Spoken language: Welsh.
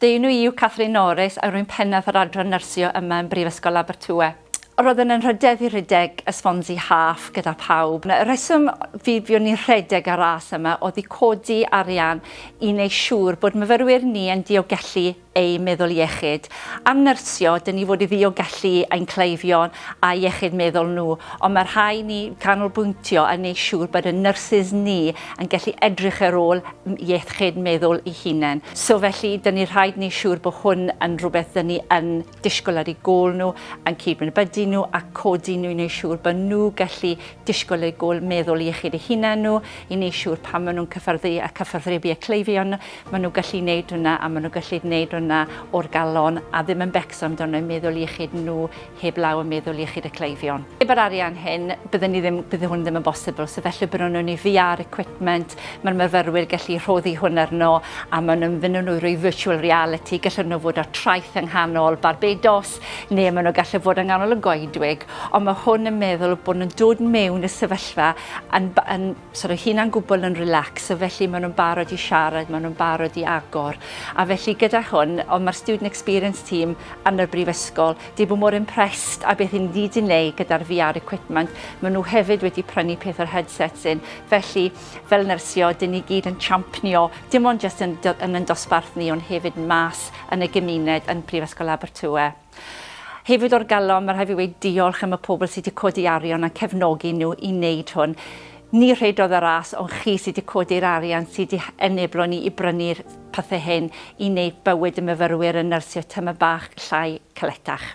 Fy enw i yw Catherine Norris a rwy'n pennaeth yr adran nyrsio yma yn Brifysgol Abertawe. Roeddwn yn rhedeg fi rhedeg y Swansea Half gyda phawb. Y rheswm fi fuon ni'n rhedeg y ras yma oedd i codi arian i wneud siŵr bod myfyrwyr ni yn diogellu eu meddwl iechyd. Am nyrsio, dyn ni fod i ddiolgellu ein cleifion a iechyd meddwl nhw, ond mae rhai ni canolbwyntio yn wneud siŵr bod y nyrsys ni yn gallu edrych ar ôl iechyd meddwl i hunain. So felly, dyn ni rhaid ni siŵr bod hwn yn rhywbeth dyn ni yn disgwyl ar ei gôl nhw, yn cydnabyddu nhw a codi nhw i wneud siŵr bod nhw gallu disgwyl eu gôl meddwl iechyd eu hunain nhw, i wneud siŵr pan maen nhw'n cyffyrddu a cyfathrebu y cleifion, maen nhw'n gallu gwneud hwnna a maen nhw'n gallu gwneud hwnna o'r galon a ddim yn becso amdano meddwl iechyd nhw heblaw am meddwl iechyd y cleifion. Heb yr arian hyn, bydden ni ddim, bydde hwn ddim yn bosibl, so felly bydden nhw'n ei VR equipment, mae'r myfyrwyr gallu rhoddi hwn arno, a maen nhw'n fynd nhw rwy virtual reality, gallen nhw fod ar traeth yng nghanol Barbados, neu maen nhw gallu fod yng nghanol y goedwig, ond mae hwn yn meddwl bod nhw'n dod mewn y sefyllfa yn, yn So roi hunan gwbl yn relax, so felly maen nhw'n barod i siarad, maen nhw'n barod i agor. A felly gyda hwn, ond mae'r Student Experience Team yn y Brifysgol, di bod mor impressed a beth hyn ni di wneud gyda'r VR equipment. Maen nhw hefyd wedi prynu peth o'r headsets yn. Felly, fel nyrsio, dyn ni gyd yn champnio, dim ond just yn, yn yn dosbarth ni, ond hefyd mas yn y gymuned yn Prifysgol Abertawe. Hefyd o'r galon, mae rhaid fi weud diolch am y pobl sy 'di codi arian a'n cefnogi nhw i wneud hwn. Ni rhedodd y ras ond chi sy 'di codi'r arian sy 'di eneblo ni i brynu'r pethe hyn i wneud bywyd y myfyrwyr yn nyrsio tymor bach llai caletach.